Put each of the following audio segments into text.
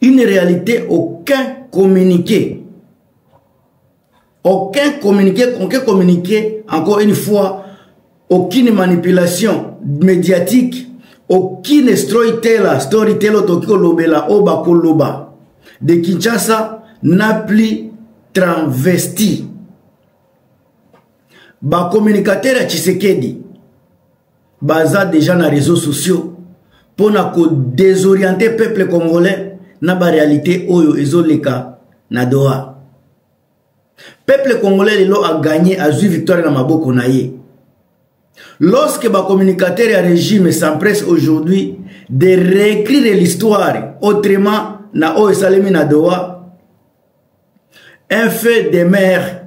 une réalité aucun communiqué aucun communiqué aucun communiqué encore une fois aucune manipulation médiatique aucune storyteller storyteller otoki kolobela oyo bakoloba de kinshasa na plus transvesti bacommunicateur ya tshisekedi baza deja na réseaux sociaux mpo na kodesoriente peuple congolais na barealité oyo ezoleka na doha peuple congolais lelo aganye azwi victoire na maboko na ye lorsque bacommunicateur ya régime s'empresse aujourd'hui de réécrire l'histoire autrement na oyo esalemi na doha un fait de mère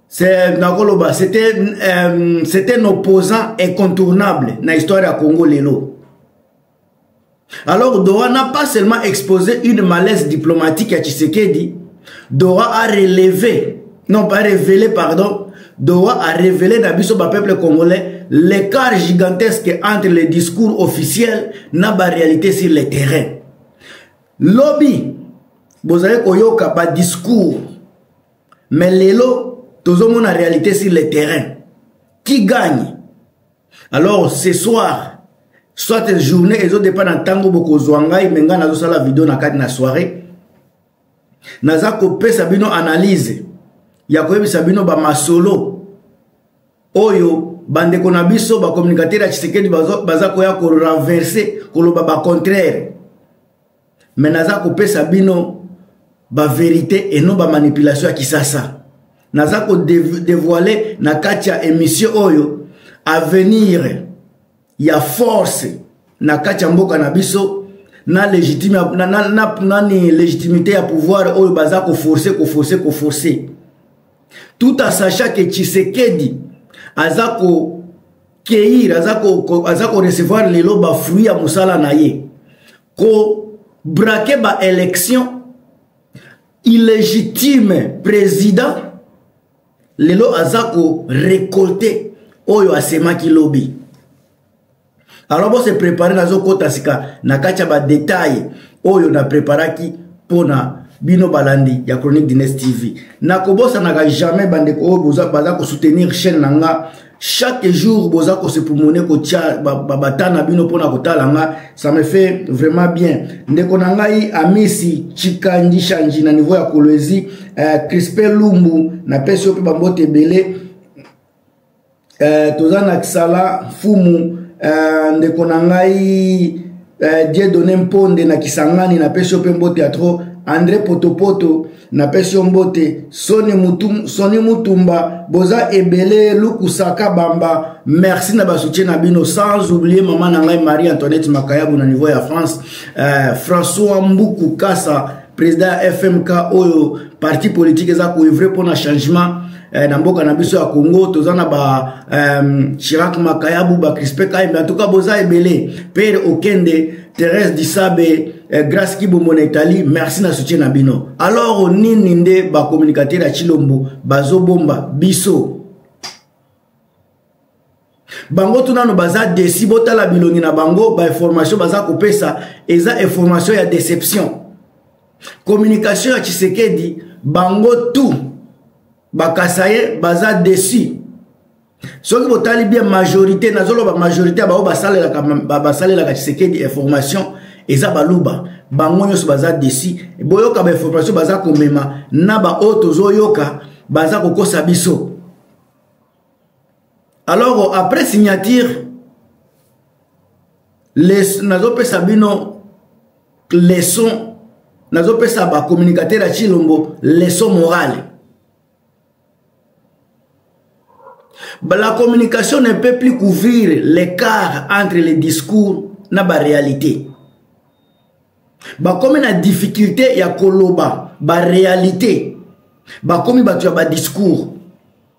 c'est nakoloba c'était euh, c'était un opposant incontournable na histoire ya congo lelo alors doha n'a pas seulement exposé une malaise diplomatique ya tshisekedi doha a relevé non pas révélé pardon doha a révélé na biso bapeuple congolais l'écart gigantesque entre les discours officiels na baréalité sur le terrain lobi bozali koyoka badiscours mais lelo tozomona réalité sur le terrain qui gagne alors ce soir soit journée ezodepa na ntango bokozwa ngai me ngai nazosala video na kati na soirée naza kopesa bino analyse ya koyebisa bino bamasolo oyo bandeko na biso bacommunicateur ya tshisekedi baza koya korenverse koloba bacontraire me naza kopesa bino baverité et non bamanipulation ya kisasa naza kodevoile na kati ya émission oyo avenir ya force na kati ya mboka na biso na légitime na, na, na, nani légitimité ya pouvoir oyo baza koforce koforce koforce tout en sachant que tshisekedi aza ko keir aza ko, ko, aza ko recevoir lelo ba fruit ya musala na ye ko braquer ba élection illégitime président lelo aza ko récolter oyo asemaki lobi alors bo se préparer nazo kota sika na kati ya ba détails oyo na préparaki mpo na bino balandi ya chronique dines tv nakobosanaka jamais bandeko oyo baza kosoutenir chaîne na nga chaque jour boza kosepumone kotya babata na bino mpona kotala nga ça me fait vraiment bien ndeko na ngai amisi chikandishanji na niveau ya kolwezi uh, crispe lumbu napesi yo mpe bambote ebele uh, toza na kisala mfumu uh, ndeko na ngai eh, dieu donne mponde na kisangani napesi yo mpe mbote ya tro andre potopoto napesi yo mbote soni, mutum, soni mutumba boza ebele lukusaka bamba merci na basoutien na bino sans oublie mama na ngai marie antoinette makayabu na niveau ya france eh, françois mbuku kasa président ya fmk oyo parti politique eza koevre mpona changement eh, na mboka na biso ya congo toza na ba eh, chirac makayabu bacrispe kaimbe antuka boza ebele pere okende therese disabe eh, grace kibomo na italie merci na soutien na bino alors nini nde bacommunicateur ya chilombo bazobomba biso bango tu nano baza desi botala bilongi na bango bainformation baza kopesa eza information ya deception communication ya tshisekedi bango tu bakasa ye baza desi soki botali bien majorité nazoloba majorité ya bango basalelaka basalelaka tshisekedi information eza baluba bango nyonso baza desi boyoka bainformation baza komema na baoyo tozoyoka baza kokosa biso alors après signature les nazopesa bino leçon nazopesa bacommunicateur ya chilombo leçon morale la communication ne peut plus couvrir l'écart entre les discours na baréalité bakomi na difficulté ya koloba baréalité bakomi bato ya badiscours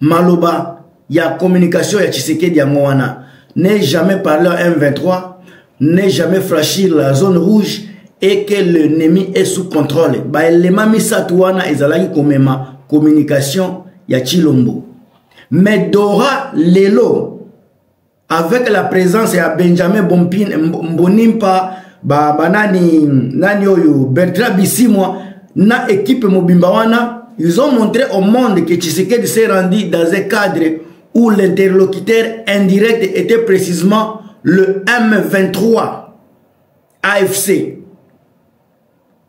maloba ya communication ya tshisekedi yango wana ne jamais parler à m23 ne jamais franchir la zone rouge et que l'ennemi est sous contrôle baelema misato wana ezalaki komema communication ya tshilombo mais dora lelo avec la présence ya benjamin bompine mbonimpa ba, ba nani, nani oyo bertrand bisimwa na équipe mobimba wana Ils ont montré au monde que Tshisekedi s'est rendu dans un cadre où l'interlocuteur indirect était précisément le M23 AFC.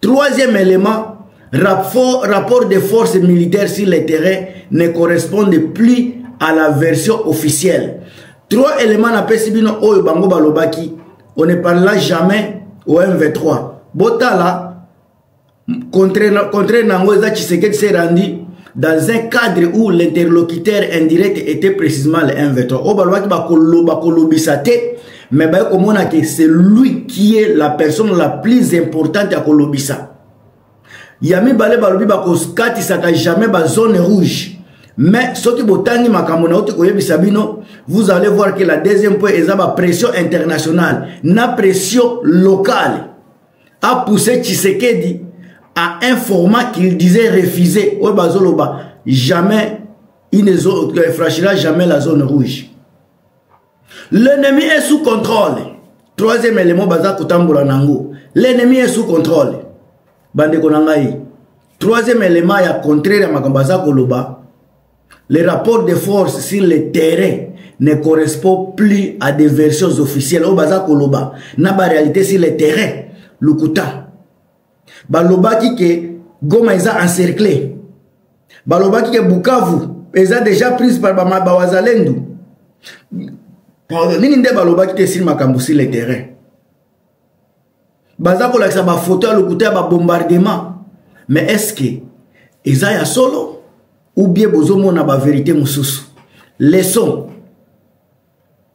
Troisième élément, rapport, rapport des forces militaires sur le terrain ne correspondent plus à la version officielle. Trois éléments na pesibino oyo bango balobaki. On ne parlera jamais au MV3. Botala, contraire, contraire nango eza Tshisekedi s'est rendu dans un cadre où l'interlocuteur indirect était précisément le MV3. Oyo balobaki bakoloba kolobisa te mais baye komona ke c'est lui qui est la personne la plus importante ya kolobisa ya mibale balobi bakokatisaka jamais bazone rouge mais soki botangi makambo nauti koyebisa bino vous allez voir que la deuxième point eza bapression internationale na pression locale apousse tshisekedi à un format qu'il disait refusé oyo bazoloba jamais il ne euh, franchira jamais la zone rouge l'ennemi est sous contrôle troisième élément baza kotambola na yango l'ennemi est sous contrôle bandeko na ngai troisième élément ya contraire ya makambo aza koloba les rapports de force sur le terrain ne correspond plus à des versions officielles oyo baza koloba na baréalité sur le terrain lokuta balobaki ke goma eza encercle balobaki ke bukavu eza déjà prise par bawazalendu nini nde balobaki te esili makambo sur le terrain baza kolakisa bafoto ya lokuta ya babombardement mais est ce que eza ya solo ou bien bozomona baverité mosusu leson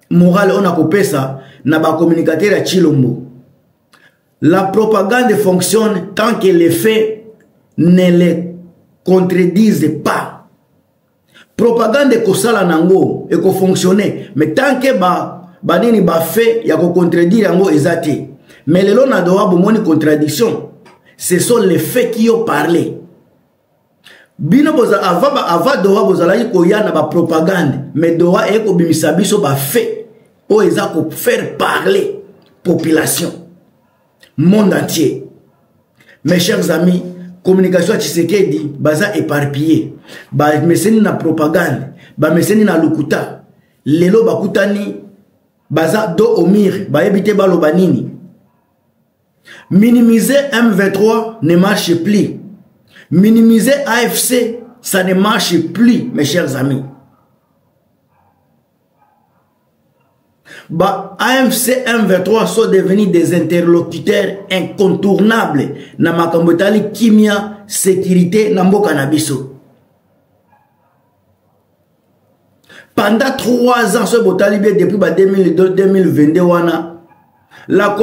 morale oyo nakopesa na bacommunicateur ya chilombo La propagande fonctionne tant que les faits ne les contredisent pas. propagande ekosala na yango ekofonctionne mais tant ke banini ba bafe ya kocontredire yango eza te mais lelo na doha bomoni contradiction ce sont les faits qui ont parlé bino boza ava ba ava doha bozalaki koya na ba propagande mais doha eye kobimisa biso ba fait oyo eza ko faire parler population monde entier mes chers amis communication ya tshisekedi baza éparpillé bameseni na propagande bameseni na lokuta lelo bakutani baza do omir bayebi te baloba nini Minimiser M23 ne marche plus. Minimiser AFC, ça ne marche plus, mes chers amis. Bah, AFC M23 sont devenus des interlocuteurs incontournables na makambo etali kimia sécurité na mboka na biso. pendant 3 ans soki botali bien depuis ba 2022 wana la,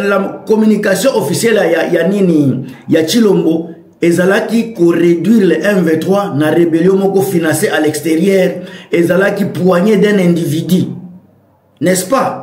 la communication officielle ya, ya nini ya chilombo ezalaki koréduire le m23 na rébellion moko financé à l'extérieur ezalaki poignet d'un individu n'est-ce pas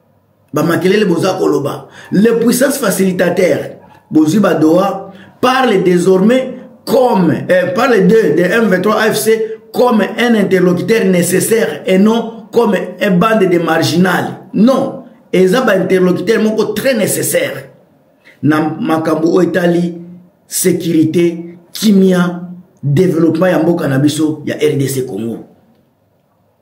bamakelele boza koloba le puissance facilitateur bozwi badoa parle désormais comme euh, parle de, de m23 afc comme un interlocuteur nécessaire et non comme un bande de marginal non eza bainterlocuteur moko très nécessaire na makambo oyo etali sécurité kimia développement ya mboka na biso ya rdc congo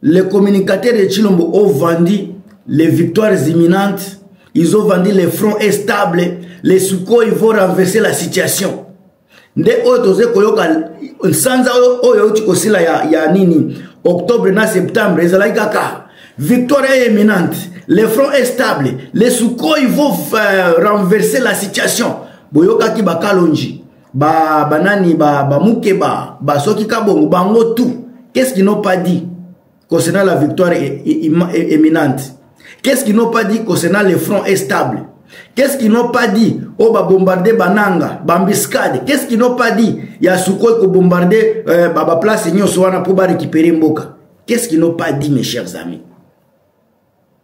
le communicateur de chilombo ovandi les victoires imminentes ils ont vendu le front est stable les sukoi vont renverser la situation nde oyo toze koyoka nsanza oyo euti kosila ya, ya nini octobre na septembre ezalaki kaka victoire est imminente le front est stable les sukoi vont euh, renverser la situation boyokaki bakalonji ba banani ba ba mukeba ba soki kabongo bango tout qu'est-ce qu'ils n'ont pas dit concernant la victoire éminente qu'est-ce qu'ils n'ont pas dit concernant le front est stable qu'est-ce qu'ils n'ont pas dit oyo oh, babombarde bananga bambiscade qu'est-ce qu'ils n'ont pas dit ya sukoi kobombarde euh, baplace nyonso wana mpo barécupere mboka qu'est-ce qu'ils n'ont pas dit mes chers amis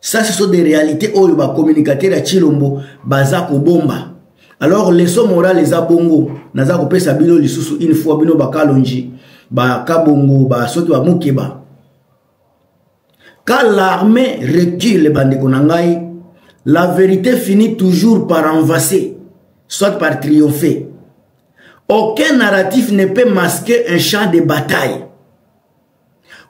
ça ce sont des réalités oyo ba communicateur ya Chilombo baza kobomba alors leçon morale eza bongo naza kopesa bino lisusu une fois bino bakalonji bakabongo ba soki bamokeba quand l'armée recule bandeko na ngai la vérité finit toujours par envaser soit par triompher aucun narratif ne peut masquer un champ de bataille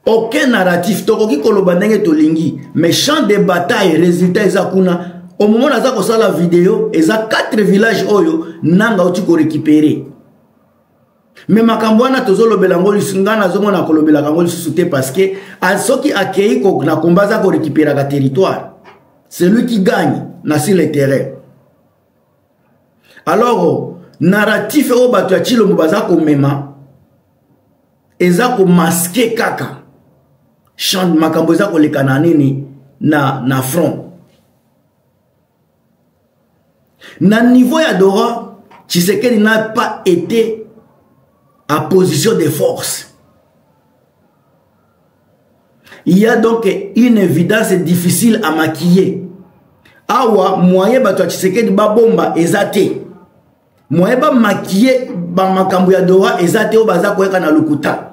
aucun narratif tokoki koloba ndenge tolingi mais champ de bataille résultat eza kuna omomona aza kosala video eza 4 village oyo nanga oti korécupere me makambo wana tozolobela yango lisusu ngai nazomona kolobelaka yango lisusu te parce que soki akei na komba aza korekiperaka territoire celui qui gagne na sur le terrain alors narratif oyo bato ya chilombo baza komema eza komaske kaka chant makambo eza koleka na nini na, na front na niveau ya dora tshisekedi n'a pas été en position de force il y a donc une évidence difficile à maquiller awa moyen bato ya tshisekedi babomba eza te moyen bamaquille bamakambo ya dora eza te oyo baza koyaka na lokuta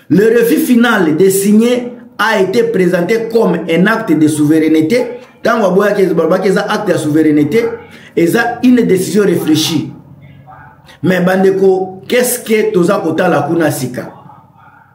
le refus final de signer a été présenté comme un acte de souveraineté ntango aboyaki balobaki eza acte ya souveraineté eza une décision réfléchie mais bandeko qu'est ce que toza kotala kuna sika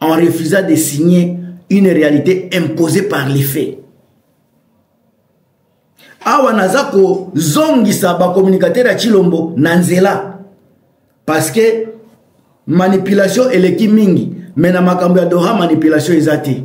en refusant de signer une réalité imposée par les faits awa naza kozongisa bacommunicateur ya chilombo na nzela parce que manipulation eleki mingi me na makambo ya doha manipulation eza te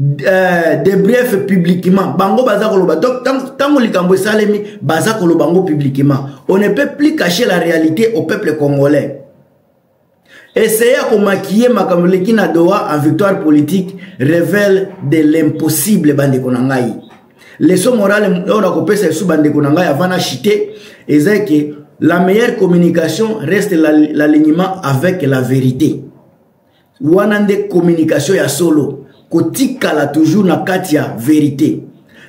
euh, de bref publiquement bango baza koloba donc ntango likambo esalemi baza koloba yango publiquement on ne peut plus cacher la réalité au peuple congolais essaye ya komakiye makambo eleki na doha en victoire politique révèle de l'impossible bandeko na ngai leso morale oyo nakopesa esu bandeko na ngai avant na chite eza eke la meilleure communication reste l'alignement avec la vérité wana nde communication ya solo kotikala toujours na kati ya verite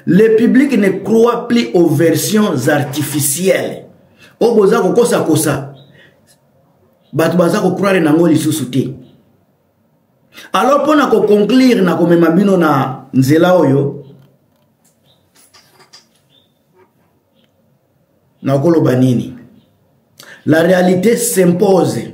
le public ne croit plus aux versions artificielles oyo boza kokosakosa bato baza kocroire nango lisusu te alors mpo na koconclure na komema bino na nzela oyo nakoloba nini la réalité s'impose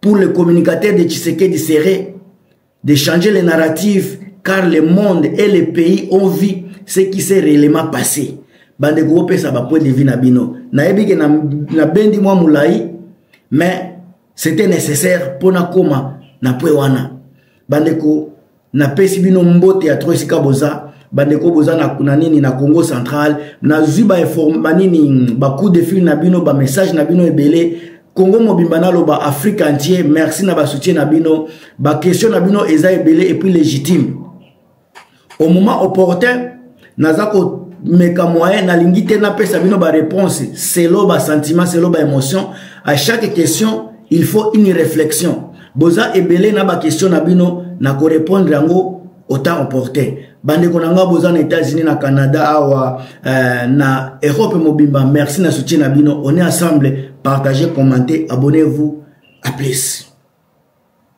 pour le communicateur de Tshisekedi serait de changer les narratifs car le monde et les pays ont vu ce qui s'est réellement passé. Bande kopesa ba point de vue na bino. Na yebi ke na, na bendi mwa mulai mais c'était nécessaire pona koma na point wana. Bande ko napesi bino mbote ya tro esika boza bandeko boza na, na nini na congo central nazwi banini bacoup de fil na bino bamessage na bino ebele congo mobimba naloba afrique entier merci na basoutien na bino baquestion na bino eza ebele epuis légitime au moment opportun naza komeka moyen nalingi te napesa bino baréponse selo basentiment selo baémotion à chaque question il faut une réflexion boza ebele na baquestion na bino na korépondre yango autant opportun bandeko na ngai boza na états-unis na canada awa euh, na europe mobimba merci na soutien na bino on est ensemble partagez commentez abonnez-vous à plus